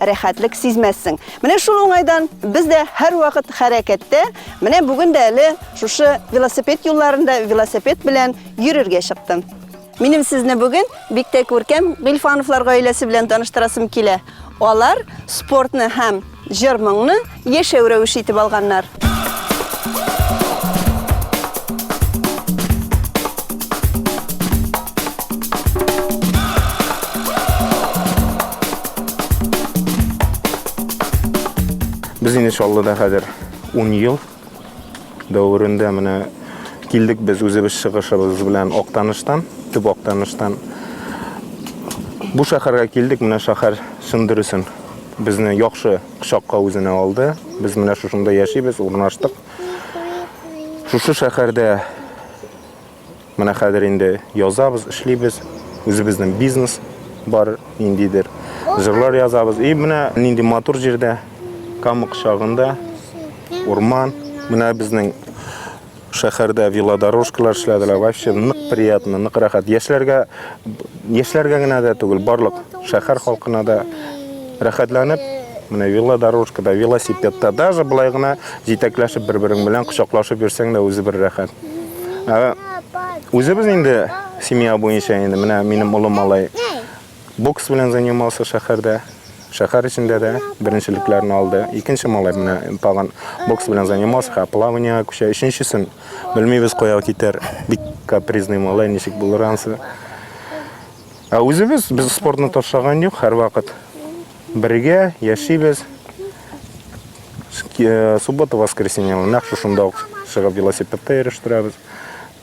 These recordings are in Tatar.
рәхәтлек сизмәссең. Менә шул уңайдан без дә һәрвакыт хәрәкәттә. Менә бүген дә әле шушы велосипед юлларында велосипед белән йөрергә чыктым. Минем сезне бүген бик тә күркәм Гыйльфановлар гаиләсе белән таныштырасым килә. Алар спортны һәм җыр-моңны Яшәү рәвеше итеп алганнар. Без инде Чаллыда хәзер 10 ел дәверендә менә килдек без үзебез чыгышыбыз белән Актаныштан, төп Актаныштан. Бу шәһәргә килдек, менә шәһәр чын дөресен безне яхшы кочакка үзенә алды. Без менә шушында яшибез, урнаштык. Шушы шәһәрдә менә хәзер инде язабыз, эшлибез. Үзебезнең бизнес бар ниндидер. Җырлар язабыз. И менә нинди матур җирдә, Кама кочагында, урман. Менә безнең Шәһәрдә велодорожкалар эшләделәр. Вообще нык приятно, нык рәхәт. Яшьләргә яшьләргә генә дә түгел, барлык шәһәр халкына да рәхәтләнеп менә велодорожкада, велосипедта даже былай гына җитәкләшеп бер-берең белән кочаклашып йөрсәң дә үзе бер рәхәт. Ә үзебез инде семья буенча инде менә минем улым малай Бокс белән занимался шәһәрдә. Шәһәр эчендә дә беренчелекләрне алды. Икенче малай менә тагын бокс белән занимался, һә плаваниега күчә. Өченчесен белмибез кая китәр. Бик капризный малай, ничек булыр ансы. Ә үзебез без спортны ташлаган юк, һәрвакыт бергә яшибез. Суббота, воскресенье нәкъ шушында ук чыгып велосипедта йөрештирәбез.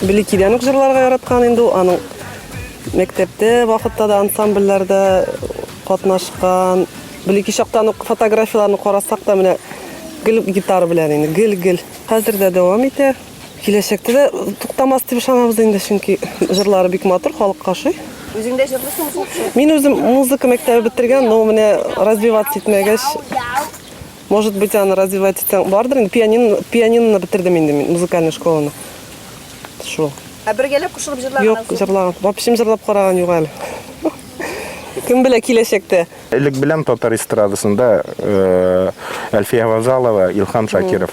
Беликидән үк җырларга яраткан инде ул. Аның мәктәптә вакытта да ансамбльләрдә катнашкан. Белики чактан ук фотографияләрне карасак та менә гел гитара белән инде, гел-гел. Хәзер дә дәвам итә. Киләчәктә дә туктамас дип ышанабыз инде, чөнки җырлары бик матур, халыкка ошый. Үзең дә җырлыйсыңмы? Мин үзем музыка мәктәбе бетергән, но менә развиваться итмәгәч, Может быть, аны развивать итсәң бардыр инде. Пианино, пианиноны бетердем инде мин, музыкальный школаны. Шул. Ә бергәләп кушылып җырлаган? Юк, җырлаган. Вообще җырлап караган юк әле. Кем белә киләчәктә? Элек беләм татар эстрадасында э, Әлфия Вазалова, Илхам Шакиров.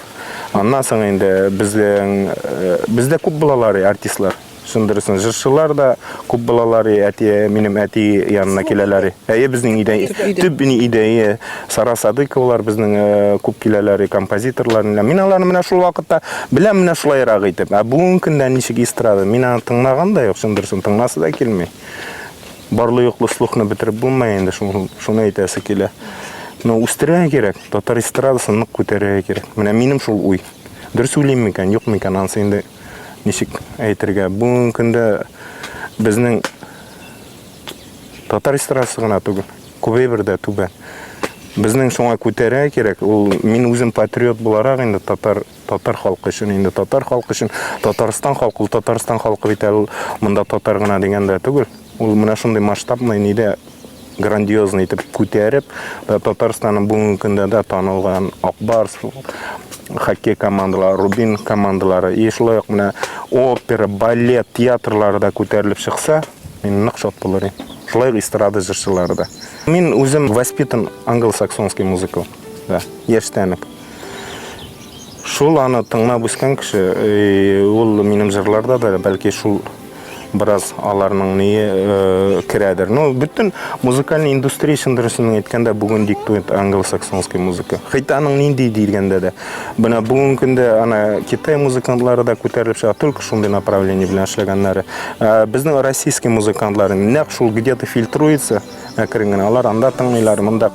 Аннан соң инде безнең э, бездә күп булалар артистлар. Шуны дөресен җырчылар да күп балалары әти минем әти янына киләләр. Әйе безнең идәй төп ни идәе Сара Садыковалар безнең э, күп киләләр композиторлар. Мин аларны менә шул вакытта беләм менә шулайрак итеп. Ә бүгенге көндә ничек эстрада? Мин аны тыңлаган да юк, шуны дөресен тыңласы да килми. Барлы юклы слухны бетереп булмый инде шуны, шуны әйтәсе килә. Но үстерергә кирәк, татар эстрадасын нык күтәрергә кирәк. Менә минем шул уй. Дөрес уйлыйм микән, юк микән, ансы инде ничек әйтергә, бүгенге көндә безнең татар эстрадасы гына түгел, күбәйбер дә түбән. Безнең шуңа күтәрә кирәк. Ул мин үзем патриот буларак инде татар татар халкы өчен инде татар халкы өчен Татарстан халкы ул Татарстан халкы бит әле монда татар гына дигәндә түгел. Ул менә шундый масштабный нидә грандиозный итеп күтәреп, Татарстанның бүгенге көндә дә танылган Акбарс хоккей командалары, Рубин командалары, и шулай ук менә опера, балет, театрлары да күтәрелеп чыкса, мин нык шат булыр идем. Шулай ук эстрада җырчылары да. Мин үзем воспитан англосаксонский музыкал. Да, яшьтән үк. Шул аны тыңлап үскән кеше, ул минем җырларда да, бәлки шул бераз аларның ние э, керәдер. Ну, бөтен музыкальный индустрия өчен дөресен әйткәндә бүген диктует англосаксонский музыка. Хәтта аның нинди дигәндә дә. Менә бүгенге көндә ана Китай музыкантлары да күтәрелеп чыга, только шундый направление белән эшләгәннәре. Э, безнең российский музыкантлар нәкъ шул где-то фильтруется, Әкрен генә алар анда тыңлыйлар, монда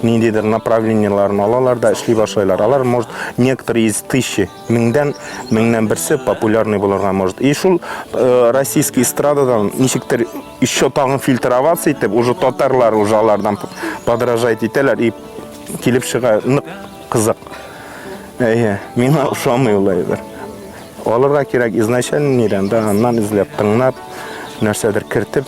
ниндидер направлениеләрен алалар да эшли башлайлар. Алар может некоторые из тысячи, меңдән меңнән берсе популярный булырга может. И шул э, российский эстрададан ничектер еще тагын фильтроваться итеп, уже татарлар уже алардан подражать итәләр и килеп чыга нык кызык. Әйе, миңа ошамый ул әйбер. Алырга кирәк изначально нирән, да аннан эзләп, тыңлап, нәрсәдер кертеп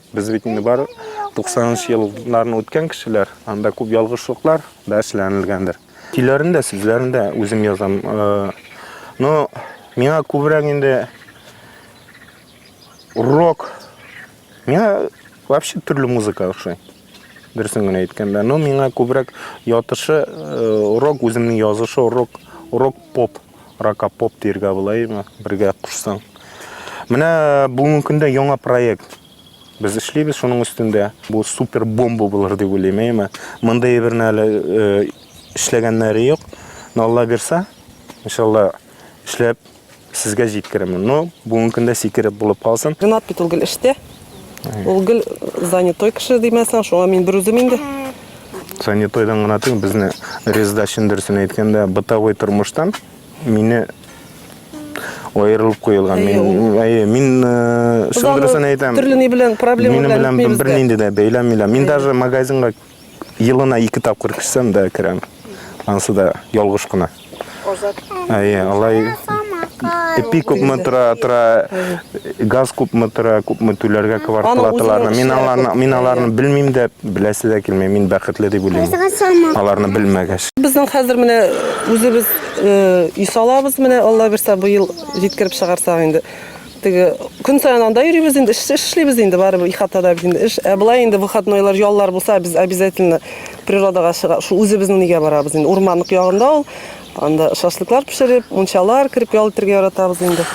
Без бит инде бар 90 нчы елларны үткән кешеләр, анда күп ялгышлыклар да эшләнелгәндер. Көйләрен дә, сүзләрен дә үзем язам. Э, но миңа күбрәк инде рок, миңа вообще төрле музыка ошый. Дөресен генә әйткәндә, но миңа күбрәк ятышы э, рок, үземнең язышы рок, рок-поп. Ракапоп диергә булаймы, бергә кушсаң. Менә бүгенге көндә яңа проект. Без эшлибез шуның өстендә. Бу супер бомба булыр дип уйлыйм, әйме. Мондый әйберне әле э, эшләгәннәре юк. Но Алла бирса, иншалла эшләп сезгә җиткеремен. Но бүгенге көндә сикереп булып калсын. Ренат бит ул гел эштә. Ул гел занятой кеше димәсәң, шуңа мин берүзем инде. Занятойдан гына түгел, безне Рездачин дөресен әйткәндә, бытовой тормыштан мине аерылып куелган. Мин, әйе, мин э, шундыйсын әйтәм. Төрле ни белән проблема Минем белән бер нинди дә бәйләмиләр. Мин даже магазинга Елына ике тапкыр керсәм дә керәм. Анысы да ялгыш кына. Азат. Әйе, алай эпи күпме тора, тора, газ күпме тора, күпме түләргә квартплаталарны. Мин аларны, мин аларны белмим дә, беләсе дә килми. Мин бәхетле дип уйлыйм. Аларны белмәгәч. Безнең хәзер менә үзебез исалабыз менә, Алла бирса, быел җиткереп чыгарсак инде. Теге көн саен анда йөрибез инде, эш эшлибез инде, барыбер ихатада без инде эш. Ә болай инде выходнойлар, яллар булса, без обязательно природага чыга, шул үзебезнең нигә барабыз инде. Урманлык ягында ул. Анда шашлыклар пешереп, мунчалар кереп ял итәргә яратабыз инде.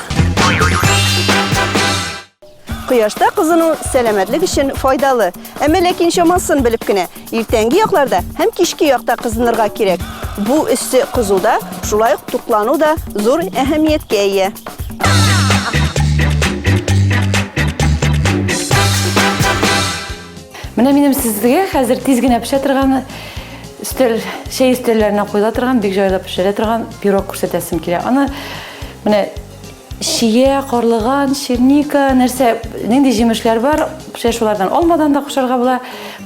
Кояшта кызыну сәламәтлек өчен файдалы. Әмма ләкин чамасын белеп кенә. Иртәнге якларда һәм кичке якта кызынырга кирәк. Бу өссе кызуда, шулай ук туклану да зур әһәмияткә ия. Менә минем сезгә хәзер тиз генә пешә торган өстәл, чәй өстәлләренә куела торган, бик җайлап пешерә торган пирог күрсәтәсем килә. Аны менә Чия, карлыган, черника, нәрсә, нинди җимешләр бар, шәй шулардан алмадан да кушарга була,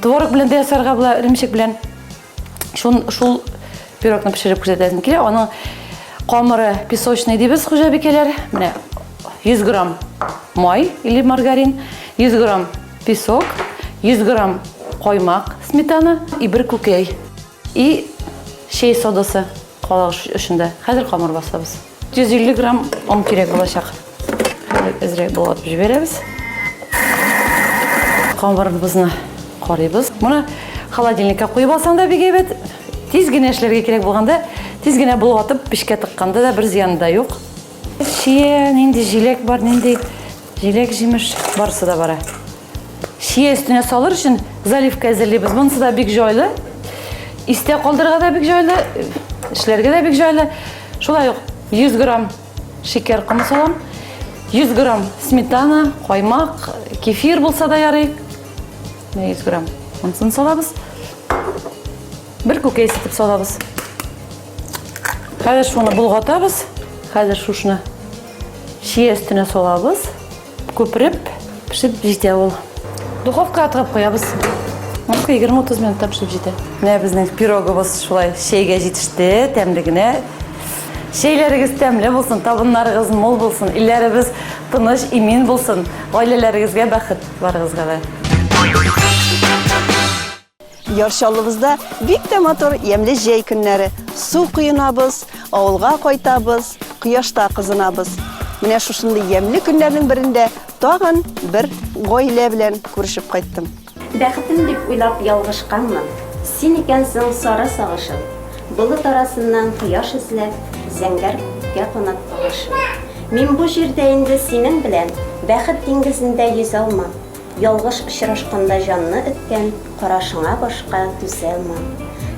творог белән дә ясарга була, эремчек белән. Шул, шул пирогны пешереп күрсәтәсем килә. Аның камыры песочный дибез хуҗабикәләр. Менә 100 грамм май или маргарин, 100 грамм песок, 100 грамм каймак, сметана и бер күкәй. И чәй содасы кала эчендә. Хәзер камыр басабыз. 150 грамм он кирәк булачак. Хәзер әзрәк булатып җибәрәбез. Камырыбызны карыйбыз. Моны холодильникка куеп алсаң да бик әйбәт. Тиз генә эшләргә кирәк булганда, тиз генә булатып пешкә тыкканда да бер зыяны да юк. Чия, нинди җиләк бар, нинди Җиләк, җимеш, барысы да бара. Шия өстенә салыр өчен заливка әзерлибез. Монысы да бик җайлы. Истә калдырырга да бик җайлы, эшләргә дә бик җайлы. Шулай ук 100 грамм шикәр комы салам. 100 грамм сметана, каймак, кефир булса да ярый. 100 грамм. Монысын салабыз. Бер күкәй ситеп салабыз. Хәзер шуны болгатабыз. Хәзер шушны Чия өстенә салабыз. Күпереп пешеп җитә ул. Духовка атып куябыз. Мөмкин 20-30 минутта пешеп җитә. Менә безнең пироговыз шулай чәйгә җитеште, тәмле генә. Чәйләрегез тәмле булсын, табыннарыгыз мул булсын, илләребез тыныч, имин булсын. Гаиләләрегезгә бәхет, барыгызга да. Яр Чаллыбызда бик тә матур ямьле җәй көннәре. Су коенабыз, авылга кайтабыз, кояшта кызынабыз. Менә шушындый ямьле көннәрнең берендә тагын бер гаилә белән күрешеп кайттым. Бәхетем дип уйлап ялгышканмын. Син икәнсең сары сагышым. Болыт арасыннан кояш эзләп, зәңгәр күккә канат кагышым. Мин бу җирдә инде синең белән бәхет диңгезендә йөзә алмам. Ялгыш очрашканда җанны өткән карашыңа башка түзәлмим.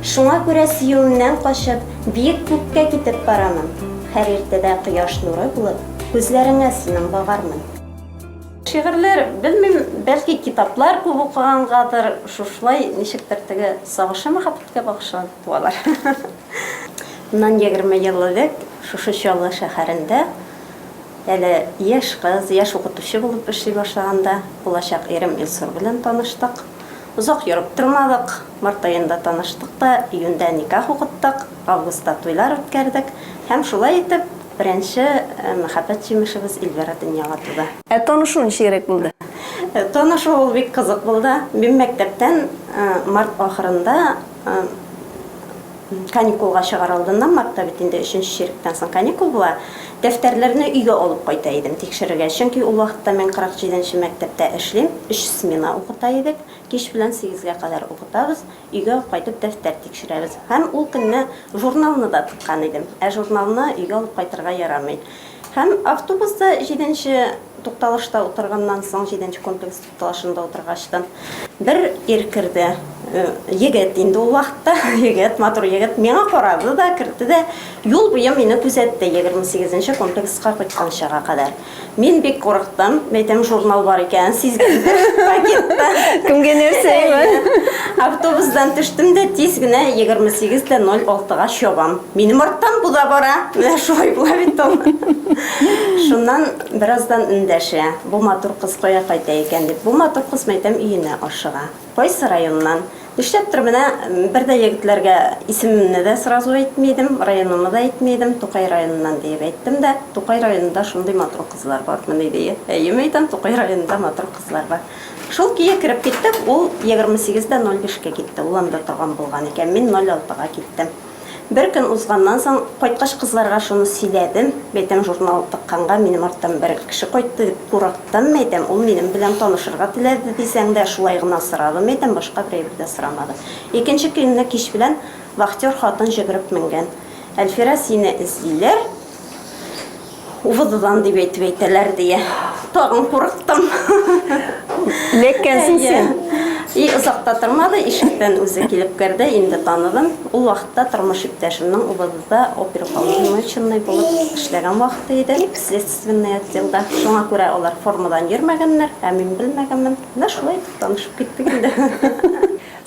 Шуңа күрә сөюемнән качып, биек күккә китеп барамын. Һәр иртәдә кояш нуры булып, күзләреңә синең багармын. Шигырьләр, белмим, бәлки китаплар күп укыгангадыр, шушылай ничектер теге сагышы мәхәббәткә багышланып туалар. Моннан егерме ел элек шушы Чаллы шәһәрендә Әле яшь кыз, яшь укытучы булып эшли башлаганда, булачак ирем Илсур белән таныштык. Озак йөреп тормадык, март аенда таныштык та, июньдә никах укыттык, августта туйлар үткәрдек һәм шулай итеп, беренче мәхәббәт җимешебез Эльвира дөньяга туды. Ә танышу ничегрәк булды? Танышу ул бик кызык булды. Мин мәктәптән март ахырында. Каникулга чыгар алдыннан, мартта бит инде өченче чиректән соң каникул була, дәфтәрләрне өйгә алып кайта идем тикшерергә, чөнки ул вакытта мин 47 нче мәктәптә эшлим, өч смена укыта идек, кич белән сигезгә кадәр укытабыз, өйгә кайтып дәфтәр тикшерәбез. Һәм ул көнне журналны да тыккан идем, ә журналны өйгә алып кайтырга ярамый. Һәм автобуста җиденче тукталышта утырганнан соң, җиденче комплекс. Талашында утыргач та, бер ир керде. Егет инде ул вакытта, егет, матур егет. Миңа карады да, кертте дә, юл буе мине күзәтте, 28 нче комплекска кайтканчага кадәр. Мин бик курыктым, мәйтәм журнал бар икәнен сизгәндер, пакетта. Кемгә нәрсә Автобусдан төштем дә, тиз генә 28 тә 06 га чабам. Минем арттан бу да бара. Менә шулай була бит ул. Шуннан Бераздан эндәшә, Бу матур кыз кая кайта икән? дип. Бу матур кыз мәйтәм өенә ашыга. Кайсы районнан? Нишләптер менә бер дә егетләргә исемемне дә сразу әйтми идем, районымны да әйтми идем, Тукай районыннан диеп әйттем дә. Тукай районында шундый матур кызлар бармыни ди. Әйе, мәйтәм, Тукай районында матур кызлар бар. Шул көе кереп киттек, ул егерме сигез дә ноль бишкә китте, ул анда торган булган икән, мин ноль алтыга киттем. Бер көн узганнан соң, кайткач кызларга шуны сөйләдем. Бәйтәм, журнал тыкканга, минем арттан бер кеше кайтты дип курыктым, мәйтәм, ул минем белән танышырга теләде дисәң дә, шулай гына сорады, мәйтәм, башка бер әйбер дә сорамады. Икенче көнне кич белән вахтер хатын җөгереп менгән. Әлфирә, сине эзлиләр. Увызыдан дип әйтеп әйтәләр дия. Тагын курыктым. Ләккәнсең син. И озакта тормады, ишектән үзе килеп керде, инде таныдым. Ул вакытта тормыш иптәшемнең Увызызда оперуполномоченный булып эшләгән вакыты иде, следственный отделда. Шуңа күрә алар формадан йөрмәгәннәр, ә мин белмәгәнмен. Менә шулай итеп танышып киттек инде.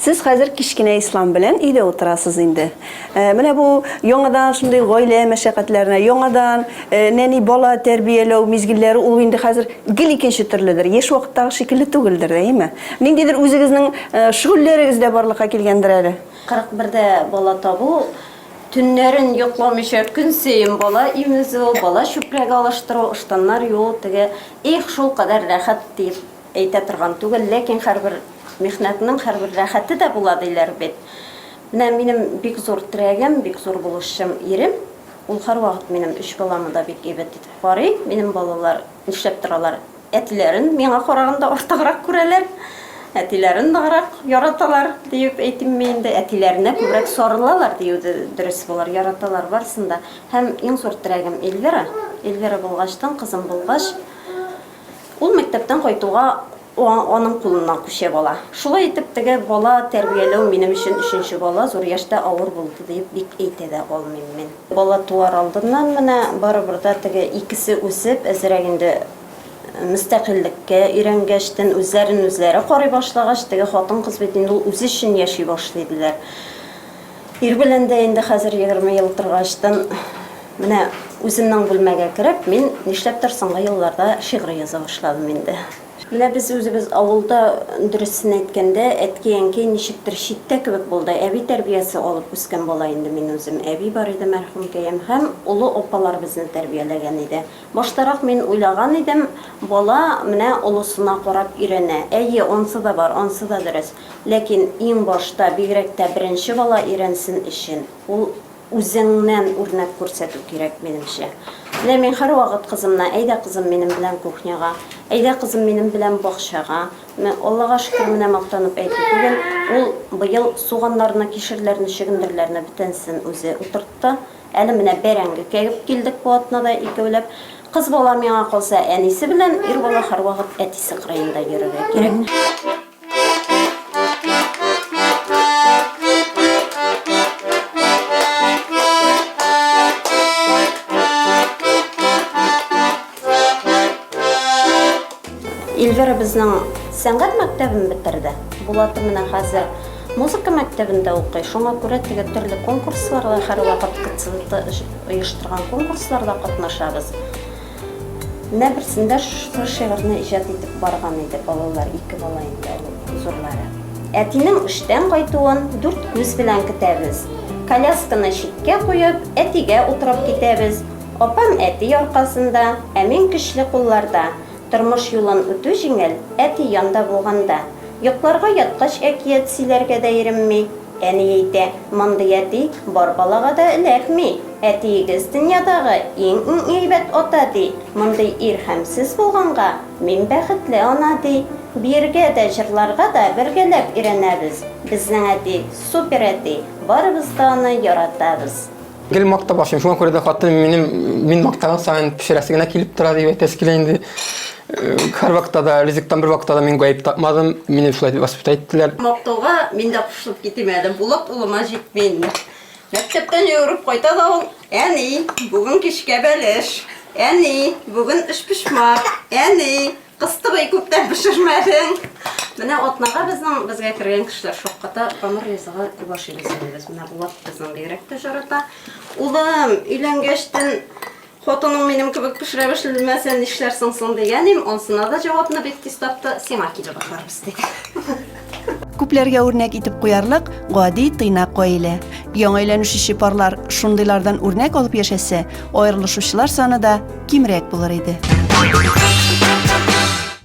Сез хәзер кечкенә Ислам белән өйдә утырасыз инде. Менә бу яңадан шундый гаилә мәшәкатьләренә, яңадан нәни бала тәрбияләү мизгелләре ул инде хәзер гел икенче төрледер. Яшь вакыттагы шикелле түгелдер, әйеме? Ниндидер үзегезнең шөгыльләрегез дә барлыкка килгәндер әле? 41 дә бала табу, төннәрен йокламыйча көнсаен бала имезү, бала чүпрәге алыштыру, ыштаннар юу, теге, их, шулкадәр рәхәт, диеп Әйтә торган түгел, ләкин һәрбер михнәтнең һәрбер рәхәте дә була диләр бит. Менә минем бик зур терәгем, бик зур булышчым, ирем. Ул һәрвакыт минем өч баламны да бик әйбәт итеп карый. Минем балалар нишләп торалар? Әтиләрен миңа караганда артыграк күрәләр. Әтиләрен ныграк яраталар, диеп әйтимме инде, әтиләренә күбрәк сарылалар, дию дөрес булыр. Яраталар барысын да. Һәм иң зур терәгем Эльвира. Эльвира булгачтын, кызым булгач, Ул мәктәптән кайтуга аның кулыннан күчеп ала. Шулай итеп, теге бала тәрбияләү минем өчен өченче бала, зур яшьтә авыр булды диеп бик әйтә дә алмыйм мин. Бала туар алдыннан менә барыбер дә теге икесе үсеп, әзрәк инде мөстәкыйльлеккә өйрәнгәчтен, үзләрен үзләре карый башлагач, теге хатын-кыз бит инде ул үзе өчен яши башлый, диләр. Ир белән дә инде хәзер егерме ел торгачтын, менә үземнең бүлмәгә кереп, мин нишләптер соңгы елларда шигъри яза башладым инде. Менә без үзебез авылда, дөресен әйткәндә, әткәй-әнкәй ничектер читтә кебек булды. Әби тәрбиясе алып үскән бала инде мин үзем. Әби бар иде, мәрхүмкәем, һәм олы апалар безне тәрбияләгән иде. Баштарак мин уйлаган идем, бала менә олысына карап өйрәнә. Әйе, ансы да бар, ансы да дөрес. Ләкин иң башта, бигрәк тә беренче бала өйрәнсен өчен, ул үзеңнән үрнәк күрсәтү кирәк, минемчә. Менә мин һәрвакыт кызымны, Әйдә, кызым, минем белән кухняга, әйдә, кызым, минем белән бакчага. Менә, Аллага шөкер, менә мактанып әйтү түгел, ул быел суганнарны, кишерләрне, чөгендерләрне бөтенесен үзе утыртты. Әле менә бәрәңге кәгеп килдек бу атнада икәүләп. Кыз бала, миңа калса, әнисе белән, ир бала һәрвакыт әтисе кырыенда йөрергә кирәк. Ильвира безнең сәнгать мәктәбен бетерде. Булаты менә хәзер музыка мәктәбендә укый. Шуңа күрә теге төрле конкурсларда һәрвакыт КЦВТ оештырган конкурсларда катнашабыз. Менә берсендә шушы шигырьне иҗат итеп барган иде балалар, ике бала инде ул зурлары. Әтинең эштән кайтуын дүрт күз белән көтәбез. Колясканы читкә куеп, әтигә утырып китәбез. Апам әти аркасында, ә мин көчле кулларда. Тормыш юлын үтү җиңел, әти янда булганда. Йокларга яткач әкият сөйләргә дә иремми. Әни әйтә, мондый әти бар балага да эләкми. Әтиегез дөньядагы иң-иң әйбәт ата, ди. Мондый ир һәм сез булганга, мин бәхетле ана, ди. Биергә дә, җырларга да бергәләп өйрәнәбез. Безнең әти, супер әти, барыбыз да аны яратабыз. Гел мактап ашыйм, шуңа күрә дә хатыным минем, мин мактаган саен пешерәсе генә килеп тора, дип әйтәсе килә инде. Һәрвакытта да, ризыктан бервакытта да мин гаеп тапмадым, мине шулай дип воспитать иттеләр. Мактауга мин дә кушылып китим әле, Булат улыма җитмим. Мәктәптән йөгереп кайта да ул, Әни, бүген кичкә бәлеш. Әни, бүген өчпочмак. Әни, кыстыбый күптән пешермәдең. Менә атнага безнең безгә кергән кешеләр шакката тамыр ризыгы күп ашыйбыз инде без. Менә Булат безнең бигрәк тә жарата. Улым, өйләнгәчтен Хатының минем кебек пешерә белмәсә нишләрсең соң, дигәнем, анысына да җавапны бик тиз тапты, сиңа килеп ашарбыз, диде. Күпләргә үрнәк итеп куярлык гади тыйнак гаилә. Яңа өйләнешүче парлар шундыйлардан үрнәк алып яшәсә, аерылышучылар саны да кимрәк булыр иде.